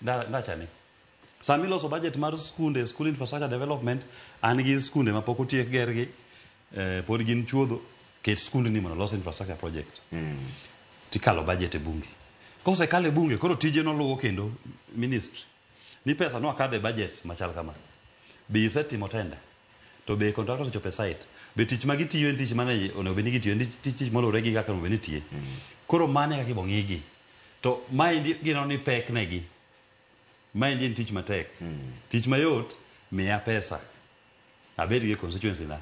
Nda- ndachani sama iloso budget mar skunde school infrastructure development an gi skunde ma pok otiek gergi eh, pod gin chuodho ket skundni mondo olos infrastructure project tikalo budget e bunge kosekalo e bunge koro tije noluwo kendo ministry ni pesa no akadho e budget machal kama be isetimo tenda To be contractor osechopo e site? Be tich ma gitiyo en tich mane onego bed ni gitiyo? En tich- tich tich moluwore gi kaka onego bed ni itiye. Koro mano e kaka ibo ng'igi. To maendi gineno ni pek negi. Maendi en tich matek. Tich mayot, miya pesa. Abed gi constituency na.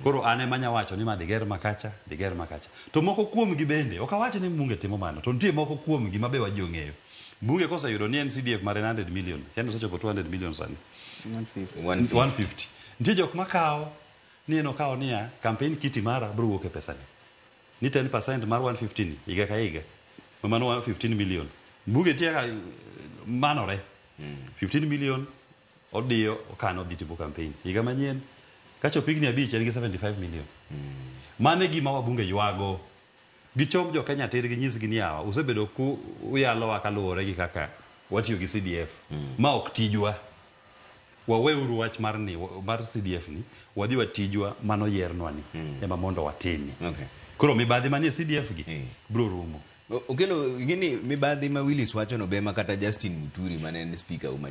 Koro an ema anya wacho ni ma dhi ger ma kacha, dhi ger ma kacha. To moko kuomgi bende, ok awach ni mbunge timo mano, to nitie moko kuomgi ma be wa ji ong'eyo. Mbunge koseyudo ni en CDF mare en 100 million, kendo osechopo 200 million sani. 150 nitie jok makawo ni en okawo niya kampen kiti mara biro wuok e pesani ni 10 percent mar 150 ni higa ka higa ma mano 115 million buge nitie ka manore 15 million odiyo okano odhi timo kampen higa manyien kachopo higni abich en gi 75 million mano e gima wabunge ywago Gichok jo Kenya tir ginyisgi ni yawa usebedo ku uyalowa kaluwore gi kaka watiyo gi CDF. Ma ok tijwa. Waweuru wach mar ni mar CDF ni wadhi watijwa mano yiernwa ni ema mondo watimi. Okay. Koro mibadhi manie CDF gi Eh. bro rumo. O- Okello, ing'e ni mibadhi ma Willis wachono be ema kata Justin Muturi mane en speaker uma